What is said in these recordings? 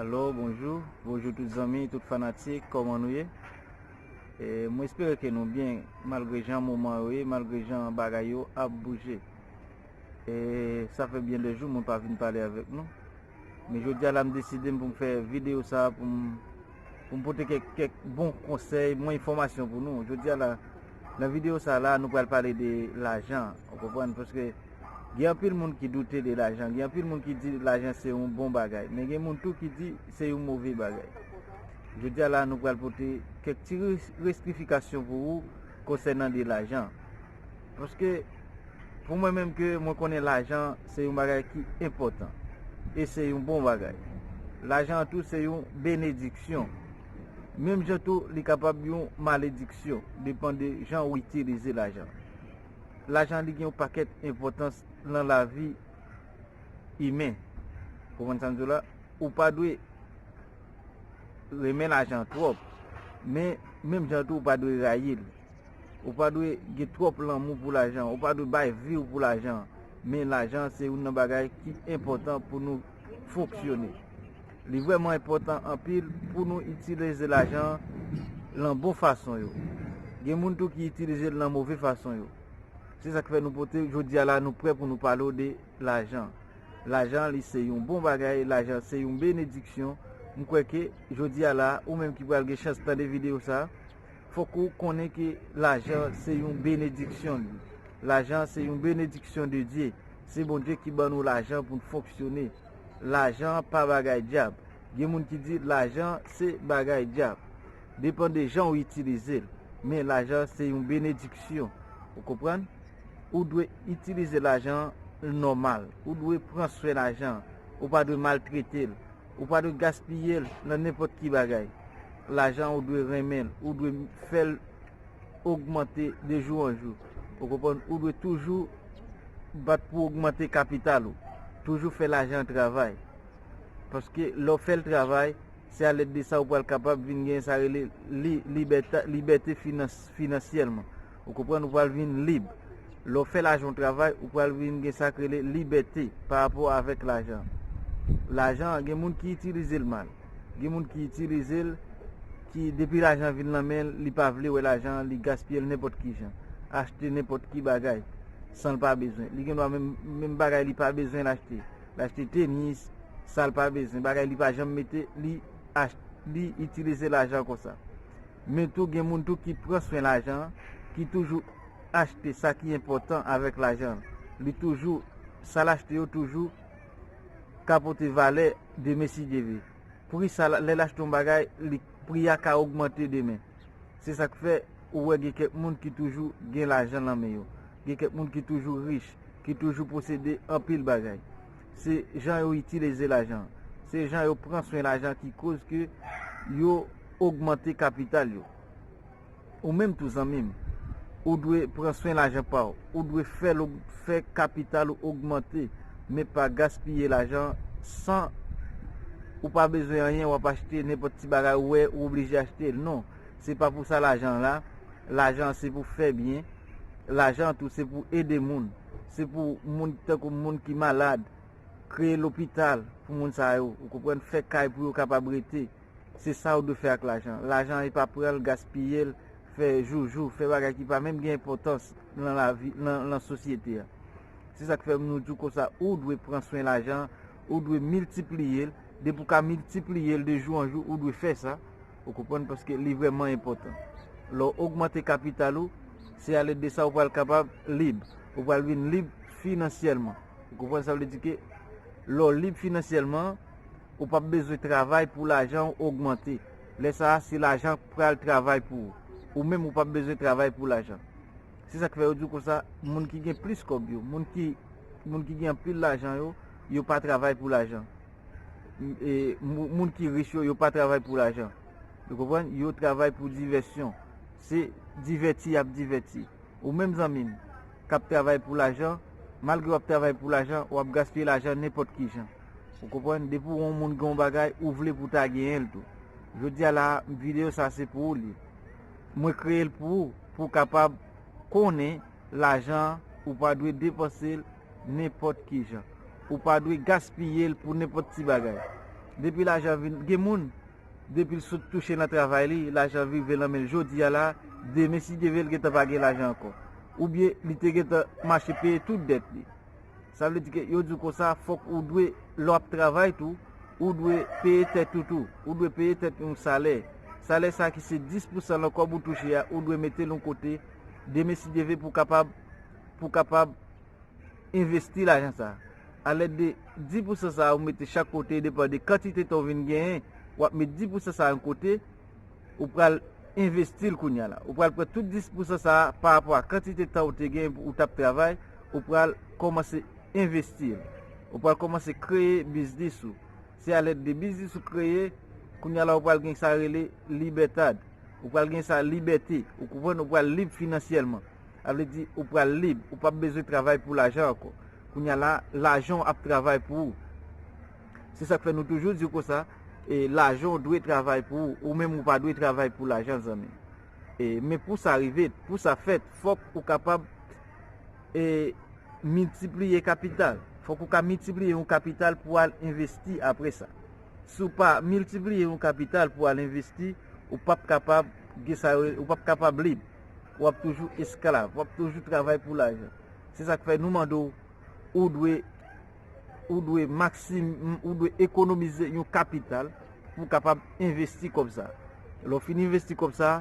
Alo, bonjou, bonjou tout zanmi, tout fanatik, kòman nou ye? E, mwen espere ke nou byen, malgre jan moman yo ye, malgre jan bagay yo ap bouje. E sa fè byen de jou mwen pa vin pale avèk nou. Men jodi a la m deside pou m fè videyo sa pou m pou m pote kèk kèk bon konsèy, bon enfòmasyon pou nou. Jodi a la nan videyo sa la nou pral pale de lajan ou konprann paske gen anpil moun ki doute de lajan, gen anpil moun ki di lajan se yon bon bagay men gen moun tou ki di se yon move bagay. Jodi a la nou pral pote kèk ti restrifikasyon pou ou konsènan de lajan. Paske pou mwen menm ke mwen konnen lajan se yon bagay ki enpòtan. E se yon bon bagay. Lajan an tou se yon benediksyon. Menm jan tou li kapab yon malediksyon. Depan de jan ou itilize lajan. Lajan li gen yon pakèt enpòtans nan lavi imen. Konprann sa m di w la? Ou pa dwe renmen lajan twòp. Men menm jan tou ou pa dwe rayi l. Ou pa dwe gen twòp lanmou pou lajan, ou pa dwe bay vi w pou lajan. Men lajan se youn nan bagay ki enpòtan pou nou fonksyone. Li vrèman enpòtan anpil pou nou itilize lajan lan bon fason yo. Gen moun tou ki itilize l lan move fason yo. Se sa k fè nou pote jodi a la nou prè pou nou pale w de lajan. Lajan li se yon bon bagay, lajan se yon benediksyon. M kwè ke jodi a la ou menm ki pral gen chans tande videyo sa, fòk ou konnen ke lajan se yon benediksyon li. Lajan se yon benediksyon de Dye. Se Bondye ki ban nou lajan pou n fonksyone. Lajan pa bagay dyab. Gen moun ki di lajan se bagay dyab. Depan de jan ou itilize l. Men lajan se yon benediksyon. Ou konprann? Ou dwe itilize lajan nòmal. Ou dwe pran swen lajan. Ou pa dwe maltrete l. Ou pa dwe gaspiye l nan nenpòt ki bagay. Lajan ou dwe renmen l, ou dwe fè l ogmante de jou an jou. Ou konprann? Ou dwe toujou bat pou w ogmante kapital ou. Toujou fè lajan an travay. Paske lè w fè l travay, se alèd de sa ou pral kapab vin gen sa rele libète finansyèlman. Ou konprann ou pral vin lib. Lè w fè lajan w travay, ou pral vin gen sa k rele libète pa rapò avèk lajan an. Lajan an gen moun ki itilize l mal. Gen moun ki itilize l ki depi lajan an vin lan men l, li pa vle wè lajan an, li gaspiye l nenpòt ki jan. Achte nenpòt ki bagay san l pa bezwen. Li gen dwa menm menm bagay li pa bezwen l achte. L achte tenis, sa l pa bezwen, bagay li pa janm mete, li ach li itilize lajan konsa. Men tou gen moun tou ki pran swen lajan an, ki toujou achte sa ki enpòtan avèk lajan an. Li toujou, sa l achte yo toujou ka pote valè demen si Dye vle. Pri sa l, lè l achte yon bagay, li, pri a ka ogmante demen. Se sa k fè ou wè gen kèk moun ki toujou gen lajan lan men yo. Gen kèk moun ki toujou rich, ki toujou posede anpil bagay. Se jan yo itileze lajan. Se jan yo pran swen lajan ki koz ke yo ogmante kapital yo. Ou menm tou zanmi m, ou dwe pran swen lajan pa w. Ou dwe fè l fè kapital ou ogmante men pa gaspiye lajan san ou pa bezwen anyen w ap achte nenpòt ti bagay ou wè ou oblije achte l. Non, se pa pou sa lajan la. Lajan se pou fè byen. Lajan tou se pou ede moun. Se pou moun tankou moun ki malad, kreye lopital pou moun sa yo, ou konprann, fè kay pou yo kapab rete. Se sa ou dwe fè ak lajan. Lajan epa pran l, gaspiye l, fè joujou, fè bagay ki pa menm gen enpòtans nan lavi, nan sosyete a. Se sa k fè nou di w konsa, ou dwe pran swen lajan, ou dwe miltipliye l, depi ou ka miltipliye l de jou an jou, ou dwe fè sa. Ou konprann paske li vrèman enpòtan. Lè w ogmante kapital ou, se alèd de sa ou pral kapab lib. Ou pral vin lib finansyèlman. Ou konprann sa vle di ke lè w lib finansyèlman, ou pap bezwen travay pou lajan ou ogmante. Lè sa a, se lajan k pral travay pou ou. Ou menm ou pap bezwen travay pou lajan. Se sa k fè yo di w konsa, moun ki gen plis kòb yo, moun ki gen anpil lajan yo, yo pa travay pou lajan. Moun ki rich yo, yo pa travay pou lajan. Ou konprann? Yo travay pou divèsyon. Se divèti y ap divèti. Ou menm zanmi m, k ap travay pou lajan, malgre w ap travay pou lajan, w ap gaspiye lajan nenpòt ki jan. Ou konprann? Depi w wè yon moun gen yon bagay, ou vle pou w ta genyen l tou. Jodi a la a, videyo sa a se pou ou l ye. Mwen kreye l pou ou, pou w kapab konnen. Lajan an, ou pa dwe depanse l nenpòt ki jan. Ou pa dwe gaspiye l pou nenpòt ti bagay. Depi lajan vin, gen moun, depi l sot touche nan travay li, lajan rive nan men l jodi a la, demen si Dye vle l gentan pa gen lajan ankò. Oubyen li te gentan mache peye tout dèt li. Sa vle di ke yo di w konsa, fòk ou dwe, lè w ap travay tou, ou dwe peye tèt ou tou. Ou dwe peye tèt yon salè. Salè sa ki se 10 pousan nan kòb ou touche a, ou dwe mete l yon kote, Demesidyeve pou kapab pou kapab envesti lajan sa a. Alèd de di pousan sa a ou mete chak kote depan de kantite tan ou vin genyen, w ap met di pousan sa a yon kote, ou pral envesti l kounya la. Ou pral pran tout dis pousan sa a parapò a kantite tan ou te genyen pou ou t ap travay, ou pral kòmanse envesti l. Ou pral kòmanse kreye biznis ou. Se a lèd de biznis ou kreye, kounya la ou pral gen sa rele libètad. Ou pral gen sa libète, ou konprann, ou pral lib finansyèlman. Sa vle di ou pral lib, ou pap bezwen travay pou lajan ankò. Kounya la, lajan w ap travay pou ou. Se sa k fè nou toujou di w konsa, e lajan w dwe travay pou ou, ou menm ou pa dwe travay pou lajan zanmi. E men pou sa rive, pou sa fèt, fòk ou kapab. e miltipliye kapital. Fòk ou ka miltipliye yon kapital pou al envesti apre sa. Si w pa miltipliye yon kapital pou al envesti, ou pap kapab gen sa yo, ou pap kapab lib. W ap toujou esklav, w ap toujou travay pou lajan. Se sa k fè nou mande w, ou dwe, ou dwe maksim, ou dwe ekonomize yon kapital pou w kapab envesti kòb sa a. Lè w fin envesti kòb sa a.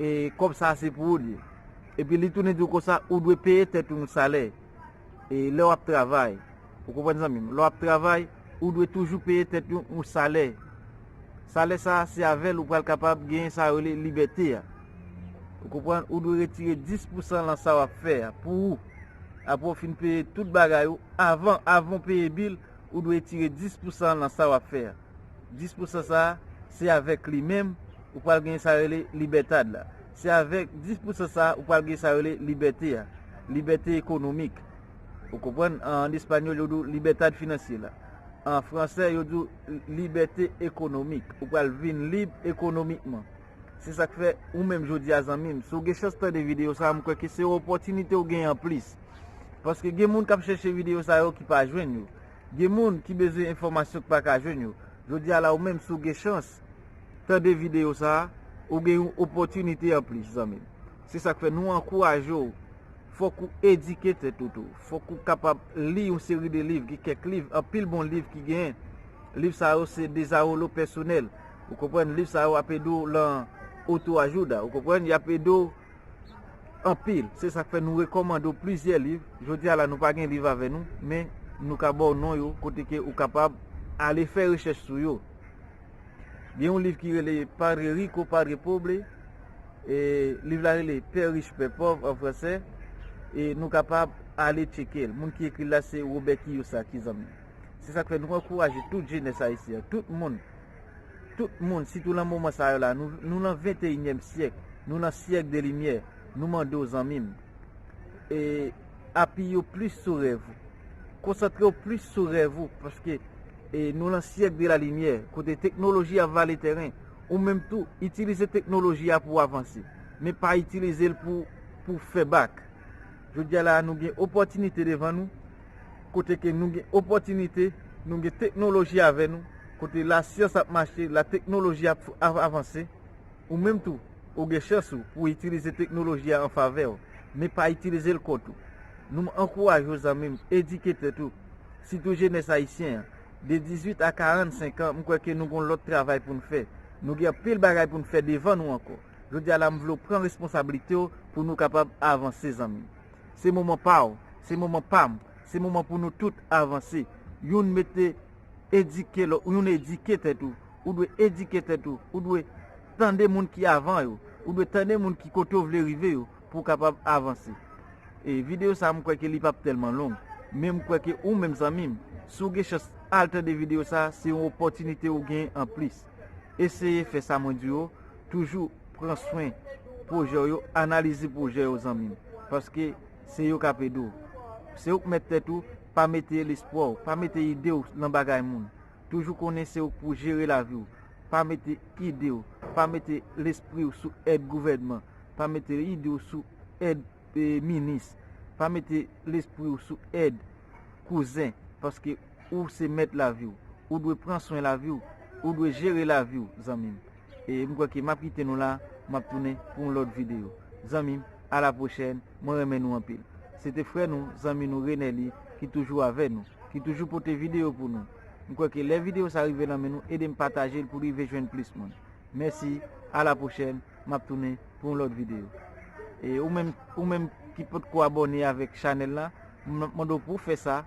E kòb sa a se pou ou li ye. Epi li tounen di ou konsa, ou dwe peye tèt ou yon salè. E lè w ap travay, ou konprann zanmi m, lè w ap travay, ou dwe toujou peye tèt ou yon salè. Salè sa a, se avè l ou pral kapab genyen sa yo rele libète a. Ou konprann, ou dwe retire 10 pou san lan sa w ap fè a pou ou. Apre ou fin peye tout bagay ou, avan, avan ou peye bil, ou dwe etire 10 pou san lan sa w ap fè a. 10 pou san sa a, se avèk li menm. ou pral genyen sa yo rele libètad la. Se avèk 10 pousan sa a ou pral genyen sa yo rele libète a, libète ekonomik. Ou konprann? An espanyòl yo di w libètad finansyera. An fransè yo di w libète ekonomik. Ou pral vin lib ekonomikman. Se sa k fè ou menm jodi a zanmi m, si w gen chans tande videyo sa a, m kwè ke se yon opòtinite ou genyen anplis. Paske gen moun k ap chèche videyo sa yo ki pa jwenn yo. Gen moun ki bezwen enfòmasyon ki pa ka jwenn yo. Jodi a la ou menm si w gen chans, tande video sa a, ou gen yon opòtinite anplis zanmi m. Se sa k fè nou ankouraje w, fòk ou edike tèt ou tou, fòk ou kapab li yon seri de liv, gen kèk liv, anpil bon liv ki genyen. Liv sa yo se dezawolo pèsonèl, ou konprann, liv sa yo ap ede w lan oto ajouda, ou konprann, y ap ede w anpil. Se sa k fè nou rekòmande w plizyè liv. Jodi a la nou pa gen liv avè nou, men nou ka ba w non yo kote ke ou kapab ale fè rechèch sou yo. Gen yon liv ki rele Padre Rico, Padre Pobre, liv la rele Pè Rich, Pè Pòv an franse, e nou kapab ale tcheke l. Moun ki ekri l la se Wobè Kiyosaki, zanmi. Se sa k fè nou ankouraje tout jenès ayisyen an, tout moun, tout moun, sitou lan moman sa yo la, nou lan venteyinyèm syèk, nou lan syèk de limyè, nou mande w zanmi m, apiye w plis sou rèv ou. Konsantre w plis sou rèv ou paske nou lan syèk de la limyè kote teknoloji ap vale tèren. Ou menm tou, itilize teknoloji a pou w avanse. Men pa itilize l pou w fè bak. Jodi a la nou gen opòtinite devan nou kote ke nou gen opòtinite, nou gen teknoloji avè nou kote la syans ap mache, la teknoloji ap avanse. Ou menm tou, ou gen chans ou pou itilize teknoloji a an favè w, men pa itilize l kont ou. Nou m ankouraje w zanmi m edike tèt ou, sitou jenès ayisyen an, de 18 a 45 an m kwè ke nou gon lòt travay pou n fè, nou gen anpil bagay pou n fè devan nou ankò. Jodi a la m vle w pran responsablite w pou nou kapab avanse zanmi m. Se moman pa w, se moman pa m, se moman pou nou tout avanse, youn mete edike lòt, youn edike tèt ou. Ou dwe edike tèt ou. Ou dwe tande moun ki avan yo. Ou dwe tande moun ki kote ou vle rive yo pou w kapab avanse. E videyo sa a m kwè ke li p ap tèlman long. Men m kwè ke ou menm zanmi m, si w gen chans al tande videyo sa a, se yon opòtinite ou gen an plis. Eseye fè sa mwen di yo, toujou pran swen pwojè w yo, analize pwojè yo zanmi m. Paske se yo k ap ede w. Se ou k mèt tèt ou, pa mete lespwa w, pa mete ide w lan bagay moun. Toujou konnen se ou k pou jere lavi w. Pa mete ide w, pa mete lespri w sou èd gouvènman, pa mete ide w sou èd minis, pa mete lespri w sou èd kouzen paske ou se mèt lavi w. Ou dwe pran swen lavi w, ou dwe jere lavi w zanmi m. E m kwè ke m ap kite nou la, m ap tounen pou yon lòt videyo zanmi m. a la pwochèn mwen renmen nou anpil se te frè nou zanmi nou Renely ki toujou avè nou ki toujou pote video pou nou m kwè ke lè video sa rive nan men nou edem patajel poul rive jwenn plis moun mèsi a la pwochèn map tounen pou yon lòt video e ou menm ou menm ki potko abòne avèk chanèl la map mande w pou w fè sa.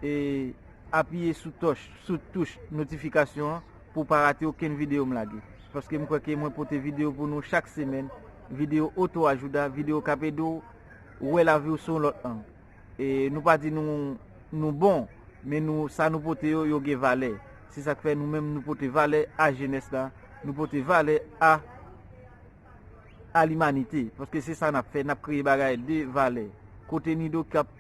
e apiye sou tòch sou touch notifikasyon an pou w pa rate okenn videyo m lage paske m kwè ke mwen pote videyo pou nou chak semèn videyo oto ajouda videyo k ap ede w wè lavi w sou yon lòt ang e nou pa di nou nou bon men nou sa nou pote yo yo gen valè se sa k fè nou menm nou pote valè a jenès la nou pote valè a a limanite paske se sa n ap fè n ap kreye bagay de valè kote nido k ap.